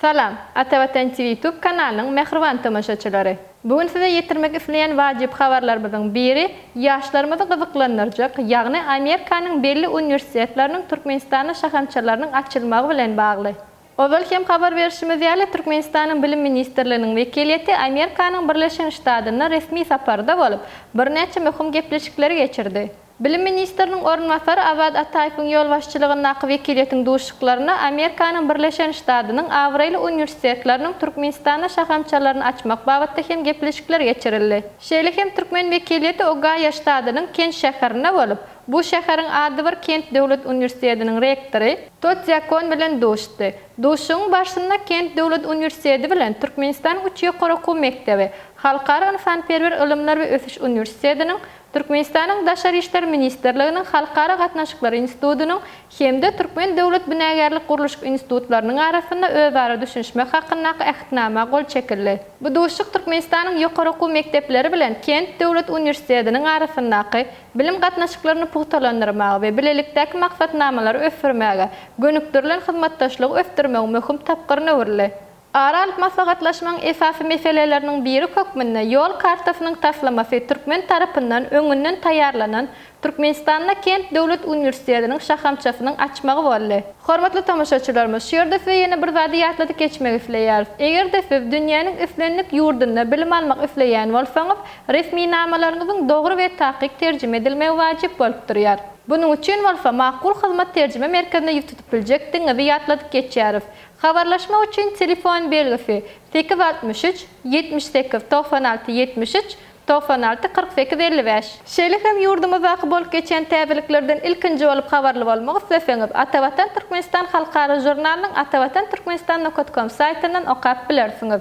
Salam, Atavatan TV YouTube kanalynyň mähriban tomaşaçylary! Bu gün size ýetirmek isleýän wajyp habarlarymyzyň biri ýaşlarymyzy gyzyklandyrjak, ýagny Amerikanyň belli uniwersitetleriniň Türkmenistanda şahamçalarynyň açylmagy bilen bagly. Ozal hem habar berşimiz ýaly, Türkmenistanyň Bilim ministrliginiň wekiliýeti Amerikanyň Birleşen Ştadynda resmi saparda bolup, birnäçe möhüm gepleşikleri geçirdi. Bilim ministriniň orunbasary Awad Ataýewiň ýolbaşçylygyndaky wekiliýetiň duşuşyklaryna Amerikanyň Birleşen Ştadynyň abraýly uniwersitetleriniň Türkmenistanda şahamçalaryny açmak babatda hem gepleşikler geçirildi. Şeýle hem türkmen wekiliýeti Ogaýo ştadynyň Kent şäherinde bolup, bu şäheriň adybir Kent döwlet uniwersitetiniň rektory, To Dzýakon bilen duşdy. Duşuşygyň barşynda Kent döwlet uniwersiteti bilen Türkmenistanyň üç ýokary okuw mekdebi, Halkara ynsanperwer ylymlar we ösüş uniwersitetiniň, Türkmenistanyň Daşary işler ministrliginiň Halkara gatnaşyklary institutynyň hem-de Türkmen döwlet binagärlik-gurluşyk institutlarynyň arasynda özara düşünişmek hakyndaky Ähtnama gol çekildi. Bu duşuşyk Türkmenistanyň ýokary okuw mekdepleri bilen Kent döwlet uniwersitetiniň arasyndaky bilim gatnaşyklaryny pugtalandyrmaga we bilelikdäki maksatnamalary ösdürmäge gönükdirilen hyzmatdaşlygy ösdürmegiň möhüm tapgyryna öwrüldi. Ara alyp maslahatlaşmagyň esasy meseleleriniň biri hökmünde Ýol kartasynyň taslamasy türkmen tarapyndan öňünden taýýarlanan Türkmenistanda Kent döwlet uniwersitetiniň şahamçasynyň açmagy boldy. Hormatly tomaşaçylarymyz, şu ýerde size ýene bir zady ýatladyp geçmek isleýäris. Eger-de siz dünýäniň islendik ýurdunda bilim almak isleýän bolsaňyz, resminamalaryňyzyň dogry we takyk terjime edilmegi wajyp bolup durýar. Bunuň üçin bolsa Makul hyzmat terjime merkezine ýüz tutup biljekdigiňizi ýatladyp geçýäris. Habarlaşmak üçin telefon belgisi, sekiz altmyş üç, ýetmiş sekiz, togsan alty, ýetmiş üç, togsan alty, kyrk sekiz, elli bäş. Şeýle hem ýurdumyzdaky bolup geçýän täzeliklerden ilkinji bolup habarly bolmak isleseňiz, Atavatan Türkmenistan halkara žurnalynyň Atavatan Türkmenistan nokat kom saýtyndan okap bilersiňiz.